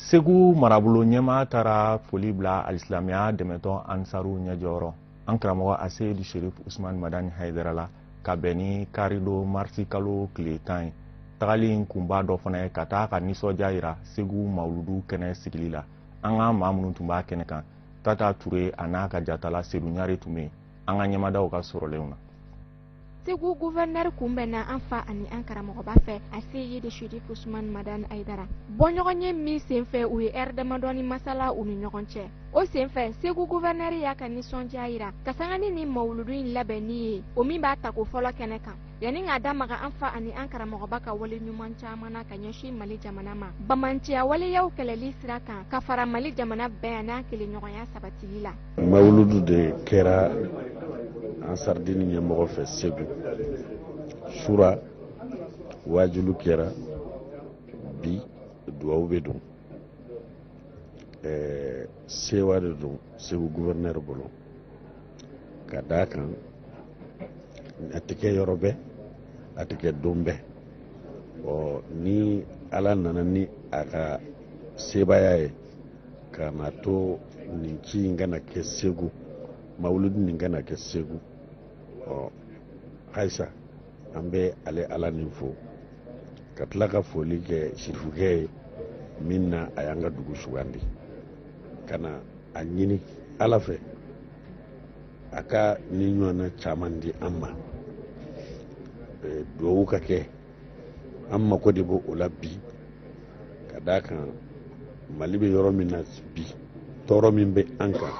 segu marabolo ɲɛmaa taara foli bila alisilamiya dɛmɛtɔn ansaruw ɲɛjɔyɔrɔ an karamɔgɔ aseyidi sherif usman madani hayidara la ka bɛn ni karidon marisi kalo tile tan ye tagali in kunba dɔ fana ye ka taa ka nisɔndiya yira segu mawuludu kɛnɛ sigili la an ka maa minnu tun b'a kɛnɛ kan tata ture an'a ka jatala sedu ɲare tun bɛ yen an k'an ɲɛmada u ka sɔrɔlenw na Segu guvɛrinɛri kunbɛnna an fa ani an karamɔgɔba fɛ aseyidi sherifu usuman madani ayidara bɔɲɔgɔnye min senfɛ u ye hɛrɛ damadɔnin masala u ni ɲɔgɔn cɛ o senfɛ segu guvɛrinɛri y'a ka nisɔndiya yira ka sanga ni mawludu in labɛnni ye o min b'a tako fɔlɔ kɛnɛ kan yanni k'a da maga an fa ani an karamɔgɔba ka wale ɲuman caman na ka ɲɛsin mali jamana ma banbaanciya waleyaw kɛlɛli sira kan ka fara mali jamana bɛn ani an kelenɲɔgɔnya sabatili la mawuludu de kɛra ansaridini ɲɛmɔgɔ fɛ segu sura waajulu kɛra bi duwawu bɛ don ɛɛ sewa de don segu guvɛrinɛri bolo ka d'a kan a tɛ kɛ yɔrɔ bɛɛ a tɛ kɛ don bɛɛ ɔ ni ala nana ni a ka sebaaya ye ka na a to nin ci in ka na kɛ segu mawuludu nin ka na kɛ segu ɔ ayisa an bɛ ale ala nin fo ka tila ka foli kɛ sirifukɛ ye min na a y'an ka dugu sugandi ka na a ɲini ala fɛ a ka nin ɲɔgɔnna caman di an ma duwawu ka kɛ an mako de b'o la bi ka d'a kan mali bɛ yɔrɔ min na bi tɔɔrɔ min bɛ an kan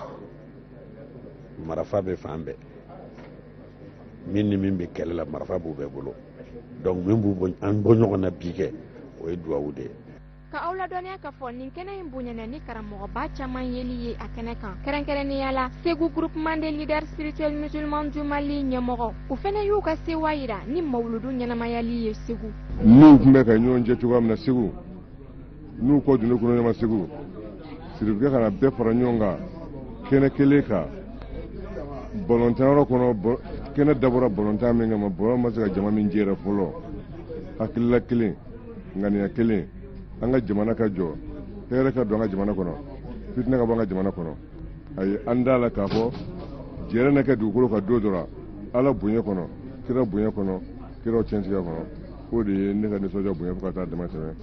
marafa bɛ fan bɛɛ min ni min bɛ kɛlɛ la marafa b'u bɛɛ bolo donc min b'an bɔ ɲɔgɔn na bi kɛ o ye duwawu de ye Ka aw ladɔnniya k'a fɔ nin kɛnɛ in bonyana ni karamɔgɔba caman yeli ye a kɛnɛ kan kɛrɛnkɛrɛnnenya la segu groupement des leaders spirituels musulmans du mali ɲɛmɔgɔ u fana y'u ka sewa yira ni mawuludu ɲɛnamayali ye segu n'u tun bɛ ka ɲɔgɔn jɛ cogoya min na segu n'u kɔ dunne kɔnɔ ɲɔgɔn segu sirifukɛ ka na bɛɛ fara ɲɔgɔn kan kɛnɛ kelen kan balɔntanyɔrɔ kɔnɔ kɛnɛ dabɔra balɔntan min kama balɔn ma se ka jama min jɛrɛ fɔlɔ hakilila kelen ŋaniya kelen an ka jamana ka jɔ hɛrɛ ka don an ka jamana kɔnɔ fitinɛ ka bɔ an ka jamana kɔnɔ a ye an d'a la k'a fɔ jɛrɛ na kɛ dugukolo kan don dɔ ra ala bonya kɔnɔ kira bonya kɔnɔ kiraw cɛntigiya kɔnɔ o de ye ne ka nisɔndiya bonya fo ka taa damatɛmɛ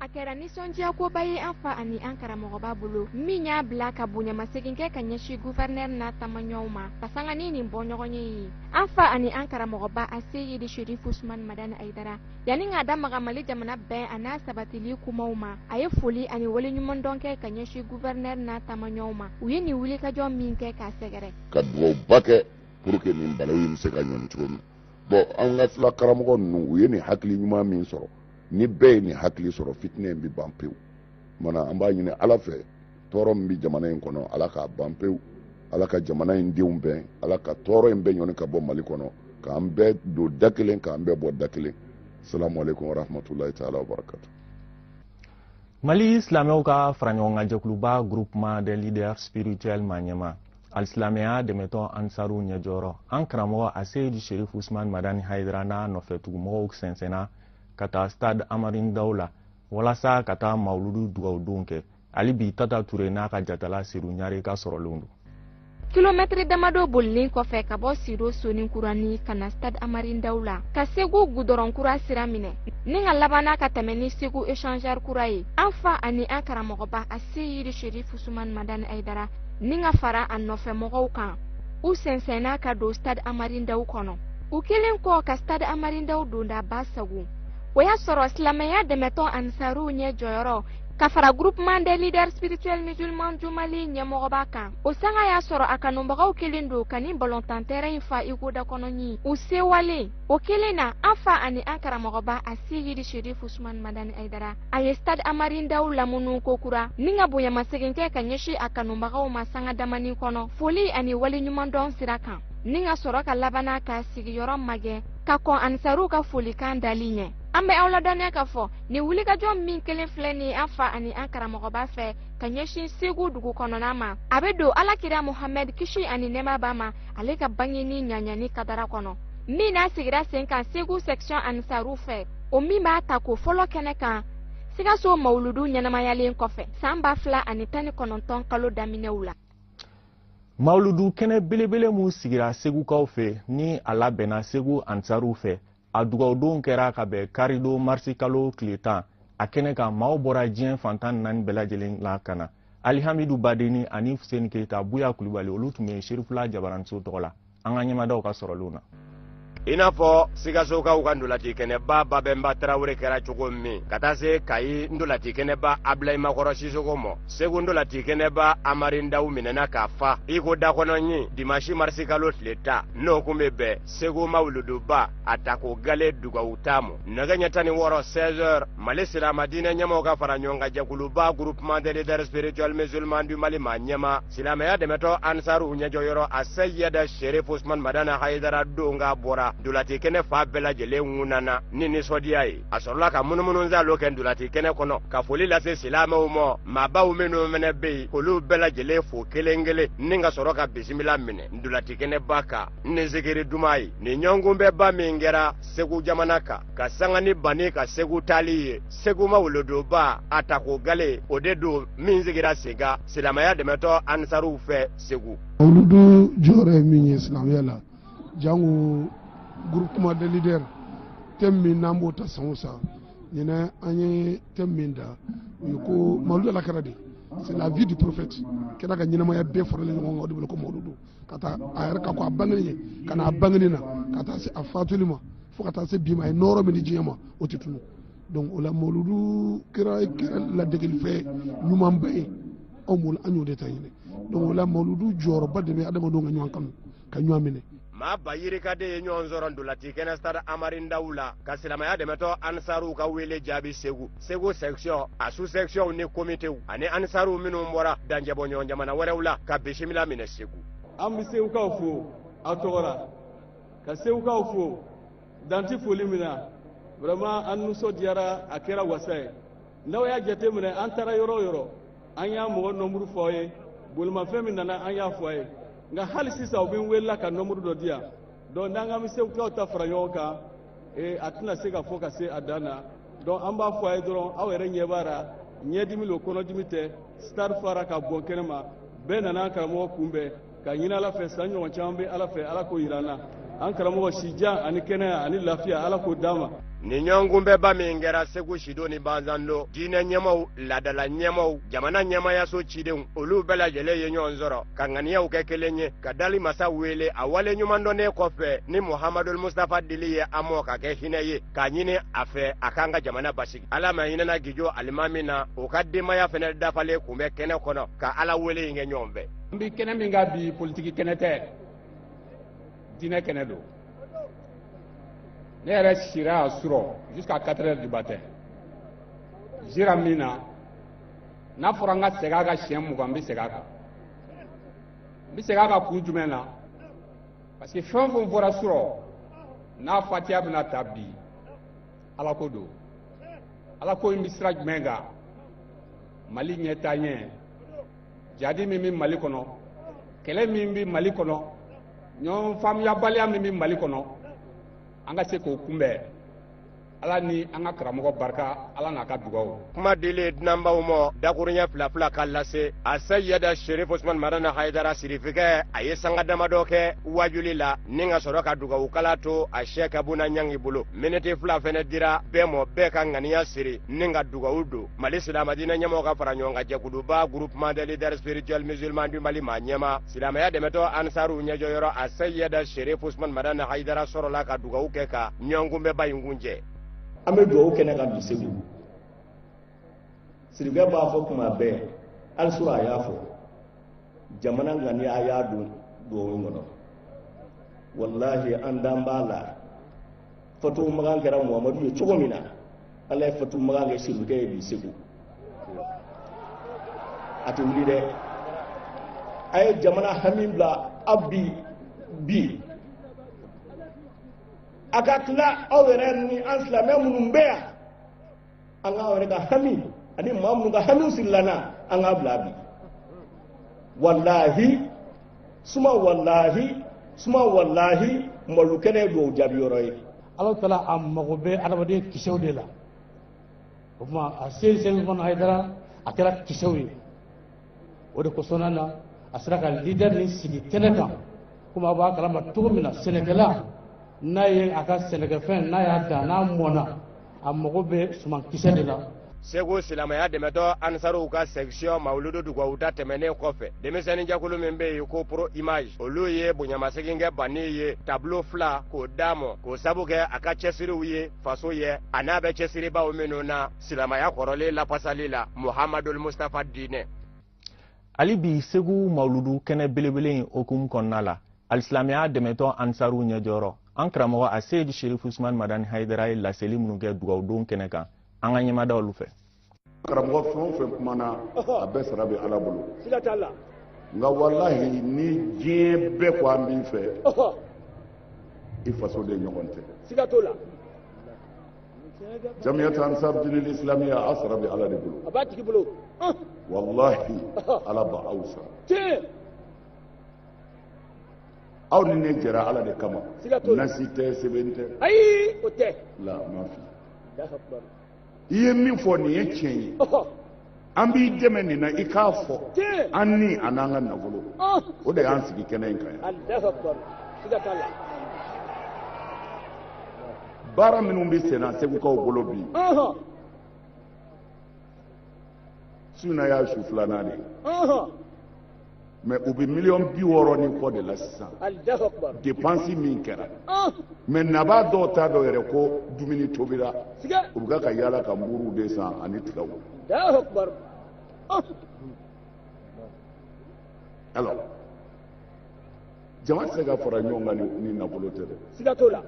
a kɛra nisɔndiyakoba ye an fa ani an karamɔgɔba bolo min y'a bila ka bonyamasegin kɛ ka ɲɛsin guvɛrinɛri n'a tamaɲɔgɔnw ma ka sanga ni nin bɔɲɔgɔnye ye an fa ani an karamɔgɔba aseyidi sherifu usumani madani ayidara yanni k'a da maga mali jamana bɛn an'a sabatili kumaw ma a ye foli ani waleɲumandɔn kɛ ka ɲɛsin guvɛrinɛr n'a taamaɲɔw ma u ye nin wulikajɔ min kɛ k'a sɛgɛrɛ ka dugawuba kɛ pour que nin balaw in bɛ se ka ɲɔni cogo min bɔn an ka fila karamɔgɔ ninnu u ye nin hakili ɲuman min sɔrɔ ni bɛɛ ye nin hakili sɔrɔ fitinɛ in bɛ ban pewu mana an b'a ɲini ala fɛ tɔɔrɔ min bɛ jamana in kɔnɔ ala k'a ban pewu ala ka jamana in denw bɛn ala ka tɔɔrɔ in bɛɛ ɲɔni ka bɔ mali kɔnɔ k'an bɛɛ don da kelen k'an bɛɛ bɔ da kelen salamu aleykum warahmatulahi taala wabarakatu mali silamɛw ka faraɲɔgɔnkan jɛkuluba groupement des leaders spirituels maɲɛmaa ani silamɛya dɛmɛtɔn ansaru ɲɛjɔyɔrɔ an karamɔgɔ aseyidi sherif usman madani hayidara n'a nɔfɛtugumɔgɔw sɛnsɛnna ka taa stade amarin daw la walasa ka taa mawuludu dugawudon kɛ hali bi tata ture n'a ka jatala seyidu ɲare ka sɔrɔlenw don kilomɛtiri damadɔ bolilen kɔfɛ ka bɔ sido soninkurani ka na stade amarindaw la ka segu gudɔrɔn kura sira minɛ ni ka labanna ka tɛmɛ ni segu echangeur kura ye an fa ani an karamɔgɔba aseyidi sherif usman madani hayidara ni ka fara a nɔfɛmɔgɔw kan u sɛnsɛnna ka don stade amarindaw kɔnɔ u kelen kɔ ka stade amarindaw dondaba sagon o y'a sɔrɔ silamɛya dɛmɛtɔn ansaruw ɲɛjɔyɔrɔ ka fara groupement des leaders spirituels musulmans du mali ɲɛmɔgɔba kan o sanga y'a sɔrɔ a kanubagaw kelen don ka nin balontan tɛrɛn in fa iko dakɔnɔɲin u sewalen o kelen na an fa ani an karamɔgɔba aseyidi sherif usman madani hayidara a ye stade amarin daw lamunu kokura ni ka bonyamasegin kɛ ka ɲɛsin a kanubagaw ma sanga damani kɔnɔ foli ani waleɲumandɔn sira kan ni ka sɔrɔ ka labanna ka sigiyɔrɔ magɛn ka kɔn anisaruw ka folikan dali ɲɛ an bɛ aw ladɔnniya k'a fɔ nin wulikajɔ min kelen filɛ nin an fa ani an karamɔgɔba fɛ ka ɲɛsin segu dugu kɔnɔna ma a bɛ don ala kira mohamɛd kisi ani nɛɛma b'a ma ale ka bangeni ɲagali kadara kɔnɔ min n'a sigira sen kan segu section anisaru fɛ o min b'a ta ko fɔlɔ kɛnɛ kan sikaso mawuludu ɲɛnamayalen kɔfɛ san ba fila ani tan ni kɔnɔntɔn kalo daminɛw la mawuludu kɛnɛ belebele min sigira segukaw fɛ ni a labɛnna segu anisaru fɛ a dugawudon kɛra ka bɛn karidon marisi kalo tile tan a kɛnɛ kan maaw bɔra diɲɛ fan tan naani bɛɛ lajɛlen la ka na alihamidu badeni ani fuseni keyita buya kulubali olu tun bɛ serifula jabaranso tɔgɔ la an ka ɲɛmadaw ka sɔrɔlenw na i n'a fɔ sikasokaw ka ndolati kɛnɛba babɛnba tarawele kɛra cogo min ka taa se kayi ndolati kɛnɛba abilayi makɔrɔ sisoko ma segu ndolati kɛnɛba amarindaw minɛna k'a fa iko dakɔnɔɲin dimasi marisikalo tile tan n'o kun bɛ bɛn segu mawuluduba a ta ko gale dugawu taamu nɛgɛ ɲɛ tan ni wɔɔrɔ 16 heures mali silama diinɛ ɲɛmaw ka fara ɲɔgɔn kan jɛkuluba groupement des leaders spirituels musulmans du mali ma ɲɛma silamɛya dɛmɛtɔ ansaruw ɲɛjɔyɔrɔ a seyɛda sherif usman madani hayidara donkan bɔra dolati kɛnɛ fan bɛɛ lajɛlen ŋunana ni nisɔndiya ye a sɔrɔla ka munumunu zalo kɛ dolati kɛnɛ kɔnɔ ka foli lase silamɛw ma maabaw minnu fɛnɛ be yen k'olu bɛɛ lajɛlen fo kelen kelen ni ka sɔrɔ ka bisimila minɛ dolati kɛnɛba kan ni zikiri duman ye nin ɲɔgɔnkunbɛnba min kɛra segu jamana kan ka sanga ni banni ka segu taali ye segu mawuluduba a tako gale o de don min sigira sen kan silamɛya dɛmɛtɔ ansaruw fɛ segu mawuludu jɔyɔrɔ ye min ye silamɛya la jango groupement des leaders thème min n'an b'o ta san o san ɲinɛ an ye thème min da o ye ko mawuludu ala kira de c'est la vie du prophète kira ka ɲɛnamaya bɛɛ faralen ɲɔgɔn kan o de wele ko mawuludu k'a ta a yɛrɛ ka ko a bangeni ɲɛ ka na a bangeni na ka taa se a fatuli ma fo ka taa se bi ma a ye nɔɔrɔ min di diɲɛ ma o tɛ tunu donc o la mawuludu kɛra ladegelifɛn ɲumanba ye anw bolo an y'o de ta ɲinɛ donc o la mawuludu jɔyɔrɔba de bɛ adamadenw ka ɲɔgɔn kanu ka ɲɔgɔn minɛ maa ba yirika de ye ɲɔgɔn sɔrɔ dolati kɛnɛ stade amari ndaw la ka silamaya dɛmɛtɔ ansaruw ka weele jaabi segu segu sɛkisiyɔn a su sɛkisiyɔnw ni komitew ani anisaruw minnu bɔra danjɛbɔɲɔgɔn jamana wɛrɛw la ka bisimila minɛ segu an bɛ segukaw fo a tɔgɔ la ka segukaw fo dan tɛ foli min na vraiment an nisɔndiyara a kɛra wasa ye n'aw y'a jateminɛ an taara yɔrɔ o yɔrɔ an y'a mɔgɔ nɔnburu fɔ aw ye bolimafɛn min nana an y'a fɔ a ye nka hali sisan u bɛ n wele la ka nɔnburu dɔ di yan donc n'an k'an bɛ segukaw ta fara ɲɔgɔn kan ee a tɛna se ka fɔ ka se a dan na donc an b'a fɔ a ye dɔrɔn aw yɛrɛ ɲɛ b'a ra ɲɛdimi lo kɔnɔdimi tɛ stade fara ka bɔn kɛnɛ ma bɛɛ nana an karamɔgɔ kunbɛn ka ɲini ala fɛ san ɲɔgɔn caman bɛ ala fɛ ala k'o yira an na an karamɔgɔ sijan ani kɛnɛya ani lafiya ala k'o d'an ma nin ɲɔgɔnkunbɛnba min kɛra segu sido ni banzando diinɛ ɲɛmaw laadala ɲɛmaw jamana ɲɛmayaso cidenw olu bɛɛ lajɛlen ye ɲɔgɔn sɔrɔ ka ŋaniyaw kɛ kelen ye ka dali masa wele a wale ɲuman dɔnnen kɔfɛ ni muhamadul mustafa dili ye an mɔ k'a kɛ hinɛ ye k'a ɲini a fɛ a k'an ka jamana basigi ala ma hinɛna gijo alimami na o ka denbaya fɛnɛ dafalen kun bɛ kɛnɛ kɔnɔ ka ala wele in kɛ ɲɔgɔn fɛ n bi kɛnɛ min kan bi politiki kɛnɛ tɛ diinɛ kɛnɛ don ne yɛrɛ sira yan surɔ jusqu'à 4 heures du matin jira min na n'a fɔra n ka segin a kan siɲɛ mugan n bɛ segin a kan n bɛ segin a kan kun jumɛn na parce que fɛn o fɛn fɔra surɔ n'a fatiya bɛna ta bi ala ko don ala ko in bɛ sira jumɛn kan mali ɲɛtaaɲɛ jadi min bɛ mali kɔnɔ kɛlɛ min bɛ mali kɔnɔ ɲɔgɔn faamuyabaliya min bɛ mali kɔnɔ an ka se k'o kunbɛn ala ni an ka karamɔgɔ barika ala n'a ka dugawu kuma dilen dunanbaw ma dakuruɲɛ fila fila ka lase a sayiyada sherif usman madani hayidara sirifikɛ a ye sanga damadɔ kɛ waajuli la ni ka sɔrɔ ka dugawukala to a sheik abuna ɲangi bolo miniti fila fɛnɛ dira bɛɛ mɔ bɛɛ ka ŋaniya siri ni ka dugawu don mali silamadiinɛ ɲɛmɔgɔ ka fara ɲɔgɔn kan jɛkuluba groupement des leaders spirituels musulmans du mali maa ɲɛmaa silamaya dɛmɛtɔ ansaruw ɲɛjɔyɔrɔ a seyida sherif usman madani haidara sɔrɔla ka dugawu kɛ ka ɲɔgɔnkunbɛba in kuncɛ an bɛ dugawu kɛnɛ kan bi segu sirikɛ b'a fɔ kuma bɛɛ hali surɔ a y'a fɔ jamana ŋaniya a y'a don dugawu in kɔnɔ walahi an dan b'a la fatu makan kɛra muhamadu ye cogo min na ala ye fatu makan kɛ sirikɛ ye bi segu a tɛ wuli dɛ a ye jamana hami bila a bi bi a ka tila aw yɛrɛ ni an silamɛ minnu bɛ yan an ka yɛrɛ ka hami ani maa minnu ka hamiw sirilen an na an k'a bila bi walahi suma walahi suma walahi mawuludu kɛnɛ ye duwawu jaabi yɔrɔ ye ala taala a mago bɛ adamaden kisɛw de la o tuma a seyidi usman hayidara a kɛra kisɛw ye o de kosɔnna na a sera ka leader nin sigi kɛnɛ kan komi a b'a kalama cogo min na sɛnɛkɛla n'a ye a ka sɛnɛkɛfɛn n'a y'a dan n'a mɔna a mago bɛ sumankisɛ de la segu silamɛya dɛmɛtɔ ansaruw ka section mawuludu dugawu ta tɛmɛnen kɔfɛ denmisɛnnin jɛkulu min bɛ yen ko pro image olu ye bonyamasegin kɛ bani ye tablo fila k'o d'a mɔ k'o sabu kɛ a ka cɛsiriw ye faso ye a n'a bɛ cɛsiri baaraw minnu na silamaya kɔrɔlen lafasali la muhamadul mustapha diinɛ hali bi segu mawuludu kɛnɛ belebele in hukumu kɔnɔna la alisilamɛya dɛmɛtɔ ansaruw ɲɛjɔyɔrɔ an karamɔgɔ a seyidu sherif usman madani hayidara ye laseli minnu kɛ dugawudon kɛnɛ kan an ka ɲɛ mada olu fɛ karamɔgɔ fɛn o fɛn kumana a bɛɛ sara bɛ ala bolo nka walahi ni diɲɛ bɛɛ ko an b'i fɛ i fasoden ɲɔgɔn tɛ jamiyatu ansar dini islamiya a sara bɛ ala de bolo a b'a tigi bolo walahi ala b'aw sara tiɲɛ aw ni ne jɛra ala de kama siga t'o la nasi tɛ sɛbɛn tɛ ayi o tɛ la ma fi Allahu akbar. i ye min fɔ nin ye tiɲɛ ye Ɔhɔ. an b'i dɛmɛ nin na i k'a fɔ an ni an'an ka nafolo oh. o de y'an sigi kɛnɛ in kan yan baara minnu bɛ sen na segukaw bolo bi su in na y'a su filanan de ye mais u bɛ miliyɔn bi wɔɔrɔ ni kɔ de la sisan depansi min kɛra ah. mais nabaa dɔw t'a dɔn yɛrɛ ko dumuni tobira u bɛ ka yaala ka buuruw de san ani tigaw ah. alors jama tɛ se ka fara ɲɔgɔn kan ni nafolo tɛ dɛ siga t'o la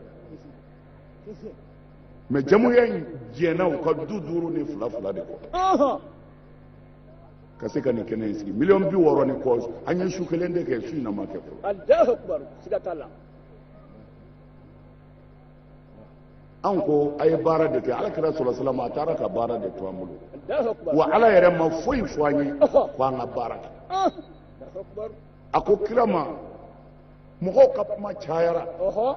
mais jamuya in jɛnna u ka du duuru ni fila fila de kɔ ka se ka nin kɛnɛ in sigi miliyɔn bi wɔɔrɔ ni kɔ an ye su kelen de kɛ su in na ma kɛ fɔlɔ alahu akubaru siga t'a la an ko a ye baara de kɛ ala kira salalahu alayihi wa salamu a taara ka baara de to an bolo alahu akubaru wa ala yɛrɛ ma foyi fɔ an ye Ɔhɔ. ko an ka baara kɛ Ah, alahu akubaru a ko kira ma mɔgɔw ka kuma cayara ɔhɔ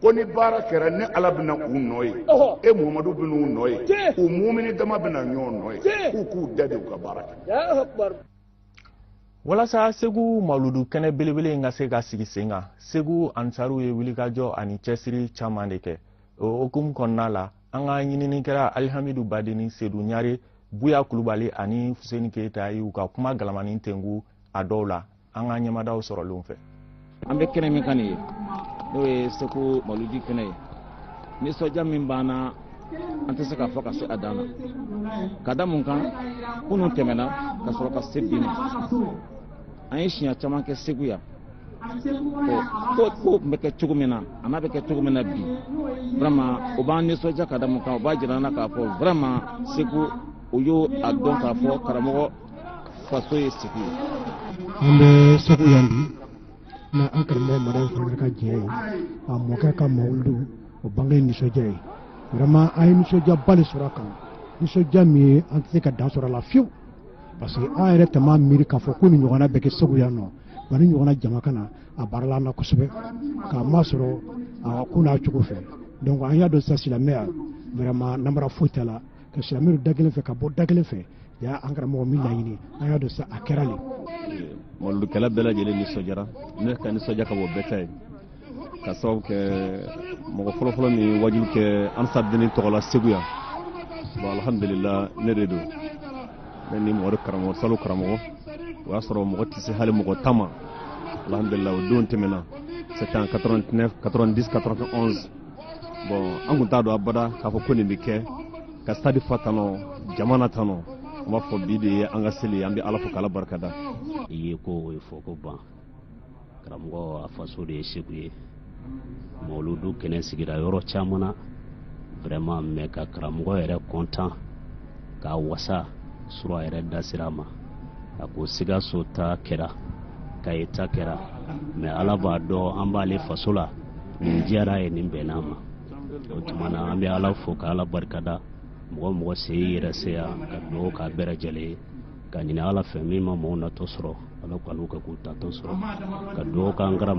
ko ni baara kɛra ne ala bɛna u nɔ ye e muhamadu bɛna u nɔ ye u mumini dama bɛna ɲɔgɔn nɔ ye k'u k'u da de u ka baara kɛ walasa segu maludu kɛnɛ belebele in ka se ka sigi sen kan segu ansaruw ye wulikajɔ ani cɛsiri caman de kɛ o hukumu kɔnɔna la an ka ɲininikɛla alihamidu badeni sedu ɲare buya kulubali ani fuseni keyita y'u ka kuma galamani tengu a dɔw la an ka ɲɛmadaw sɔrɔlenw fɛ an bɛ kɛnɛ min kan nin ye n'o ye segu maludi kɛnɛ ye nisɔndiya min b'an na an tɛ se k'a fɔ ka se a dan na ka da mun kan kunun tɛmɛna ka sɔrɔ ka se bi ma an ye siɲɛ caman kɛ segu yan ko ko tun bɛ kɛ cogo min na a n'a bɛ kɛ cogo min na bi vraiment o b'an nisɔndiya ka da mun kan o b'a jira an na k'a fɔ vraiment segu o y'a dɔn k'a fɔ karamɔgɔ faso ye segu ye an bɛ segu yan bi na an karamɔgɔ madani fana ka jɛ ye a mɔkɛ ka mawulidu o bange ye nisɔndiya ye vraiment an ye nisɔndiyaba de sɔrɔ a kan nisɔndiya min ye an tɛ se ka dan sɔrɔ a la fiyewu parce que an yɛrɛ tun m'a miiri k'a fɔ ko nin ɲɔgɔnna bɛ kɛ segu yan nɔ wa nin ɲɔgɔnna jama ka na a barala an na kosɛbɛ k'a masɔrɔ a ko n'a cogo fɛ donc an y'a dɔn sisan silamɛya vraiment namara foyi t'a la ka silamɛw don da kelen fɛ ka bɔ da kelen fɛ ya an karamɔgɔ min laɲini an y'a dɔn sa a kɛra le maludukɛla bɛɛ lajɛlen nisɔndiyara ne ka nisɔndiya ka bon bɛɛ ta ye ka sababu kɛ mɔgɔ fɔlɔfɔlɔ min waajuli kɛ ansaru dini tɔgɔ la segu yan bon alhamdulila ne de don ne ni mɔgɔ karamɔgɔ salo karamɔgɔ o y'a sɔrɔ mɔgɔ tɛ se hali mɔgɔ tan ma alhamdulila o don tɛmɛna c'est en 89 90 91 bon an kun t'a dɔn abada k'a fɔ ko nin bɛ kɛ ka sitadi fa tanɔ jama na tanɔ an b'a fɔ bi de ye an ka seli ye an bɛ ala fo k'ala barikada i ye ko o ye fɔ ko ban karamɔgɔ a faso de ye segu ye mawuludu kɛnɛ sigira yɔrɔ caman na vraiment mais ka karamɔgɔ yɛrɛ content k'a wasa surɔ a yɛrɛ da sera a ma a ko sikaso ta kɛra kayi ta kɛra mais ala b'a dɔn an b'ale faso la nin diyara a ye nin bɛnna a ma o tuma na an bɛ ala fo ka ala barikada mɔgɔ o mɔgɔ se yɛrɛ se yan ka dugawu k'a bɛɛ lajɛlen ye k'a ɲini ala fɛ min ma mɔgɔw natɔ sɔrɔ ala k'u ka k'u taatɔ sɔrɔ ka dugawu k'an karamɔgɔ